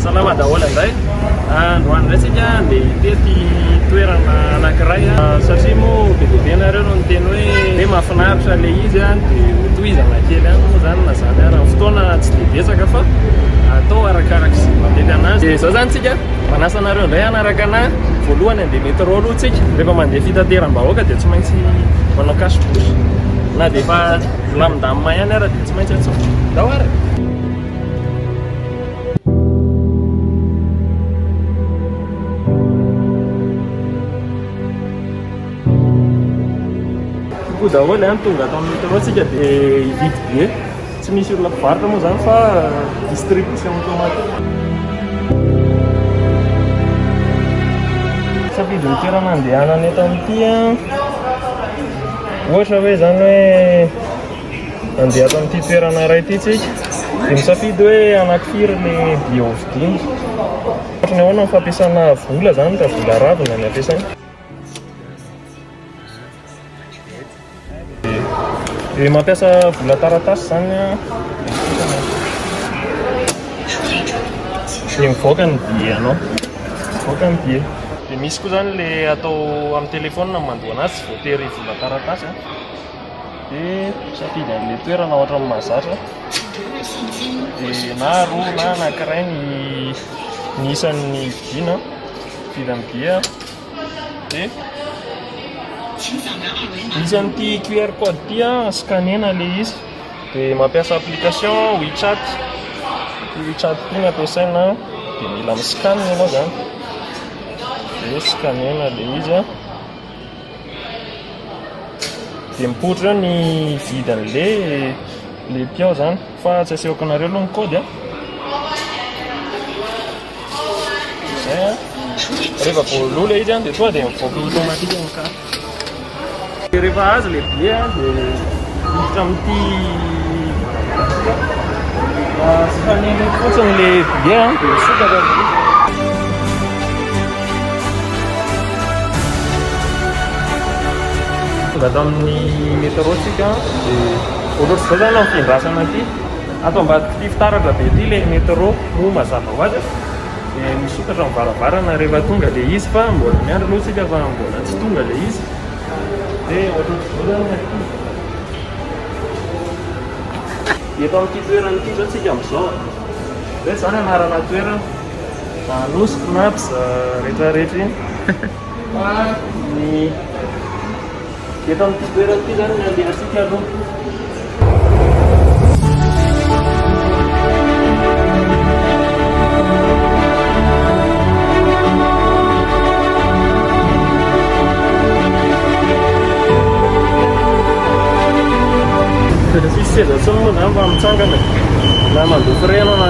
Salama daholo indray. Androany indray isika dia tety toerana anankiray satria moa be dia be nareo no niteny hoe hoe mahafinaritra ilay izy dia hotohizana kely ihany moa izany na izany ary ny fotoana tsy dia betsaka fa atao arakaraka izay mahamety anazy. Dia izao izany isika manasa anareo indray hanaraka anà voalohany handeha métro aloha isika rehefa mandeha fitateram-bahoaka dia tsy maintsy manao cache bouche. Na dia efa vilamindamina ihany ara dia tsy maintsy atsofoka. Ndao ara! Koa daholo ihany tonga ato amin'ny métro tsika dia hividy billet. Tsy misy olona mpivarotra moa izany fa distribution automatique. Safidy ny toerana andehanana eto amin'ity an! Ohatra hoe izany hoe handeha ato amin'ity toerana iray ity tsika, dia misafidy hoe anankifiry ny billet hovidiana. Ohatra ny ahoana ny fampiasana vola izany raha vola arabo no ampiasaina. Dia mampiasa vola taratasy izany an. Dia mivoaka ny billet anao. Mivoaka ny billet. Dia misy koa izany ilay atao amin'ny telefaonina no mandoa an'azy. Voatery hijinja taratasy a. Dia misafidy an'ilay toerana ohatra ny mahazatra. Dia na roa na anankiray ny ny isan'ny vidiana. Vita ny billet a. Dia misy an'ity QR code ity a, scanner-na ilay izy. Dia mampiasa application WeChat. Ity WeChat ity no ampiasaina a. Dia mila mi-scan ianao izany. Dia scanner-na ilay izy a. Dia mipoitra eo ny vidin'le le piao zany fa tsy asehoko anareo aloha ny code a. Izay a. Rehefa voaloa le izy a dia tonga dia mivoaka automatique ny carte. Dia rehefa azo le billet a dia miditra amin'ity scanner io fotsiny le billet a dia misokatra ny billet. Tonga tamin'ny métro tsika dia ohatr'izao zany amin'ny fiandrasana aty ato ambadik'ity fitaratra be ity ilay métro moa mazava ho azy dia misokatra amin'ny varavarana rehefa tonga ilay izy fa mbola miandry aloha tsika fa mbola tsy tonga ilay izy dia ohatr'izao zany ny aty eto amin'ity toerana ity izao tsika amin'izao hoe zany anarana toerana Anosy Cnaps rehetra rehetra iny fa ny eto amin'ity toerana ity zany ny andehantsika aloha. Tsisy seza intsony moa izany fa mitsangana na mandoa frais ianao na.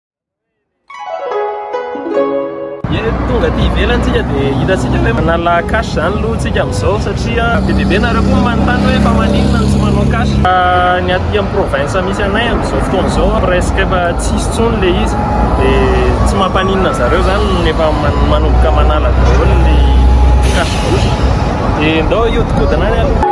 Tonga aty ivelany tsika dia hitantsika hoe manala cash izany aloha tsika amin'izao satria be dia be nareo koa manontany hoe fa maninona no tsy manao cash ah, ny aty amin'ny province misy anay amin'izao fotoana izao presque efa tsisy tsony le izy dia tsy mampaninona zareo izany efa manomboka manala daholo ny cash bouche dia ndao iodikodina any aloha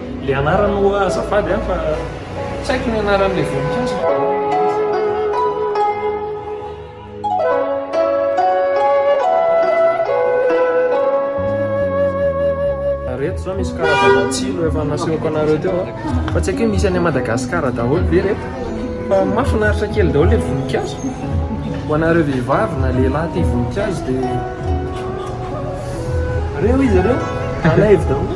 Le anarany oa azafady a fa tsy haiko ny anaran'ilay voninkazo. reto zao misy karazana tsilo efa nasehoko anareo teo a fa tsy haiko hoe misy any Madagascar daholo ve reto fa mafinaritra kely daholo le voninkazo ho anareo vehivavy na lehilahy tia voninkazo dia reo izy ireo alaivo daholo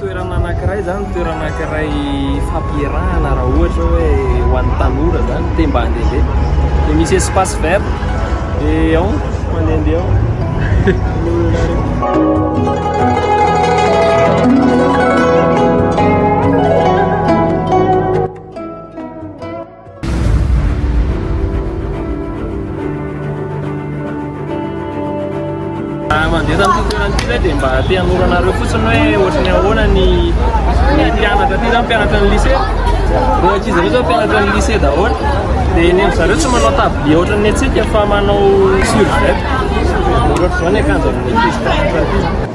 Toerana anankiray izany, toerana anankiray fampierahana raha ohatra hoe ho an'ny tanora izany, te mba handehandeha. Dia misy espace vert, dia ao, mandehandeha ao. mandeha tamin'ity toerana ity zay dia mba te hanoranareo fotsiny hoe ohatrany ahoana ny ny mpianatra ty zany mpianatra ny lycée reo ankizy reo zao mpianatra ny lycée daholo dia ny zareo tsy manao tabli ohatrany ny antsika fa manao surjet ohatr'izao ny akanjo amin'ny ankizy mpianatra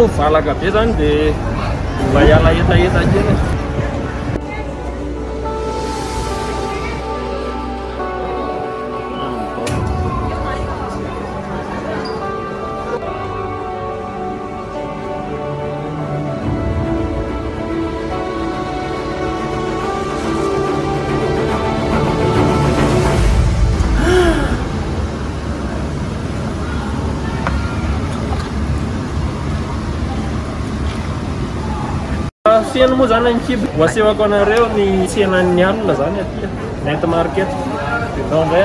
moa valaka be zany dia mba hiala hetaheta kely Feno moa zany ny kibo. Ho asehoko anareo ny tsenan'ny alina zany aty. Net market. Enao ndray.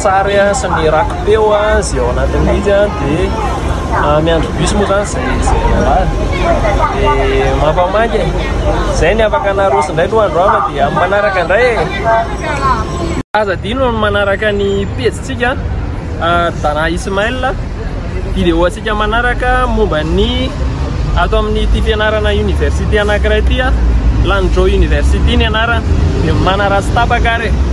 Tsary sy ny rakipeo izay ao anatin'ny izy dia miandry bus moa zany izay izay lehilahy dia mampamaika e izay ny afaka naroso indray loha andro hafa dia amin'ny manaraka indray e aza dino amin'ny manaraka ny pejintsika Dana Ismail video antsika manaraka momba ny ato amin'ny ity fianarana université anankiray ity Landro University ny anarana dia manaratsy tapaka ary e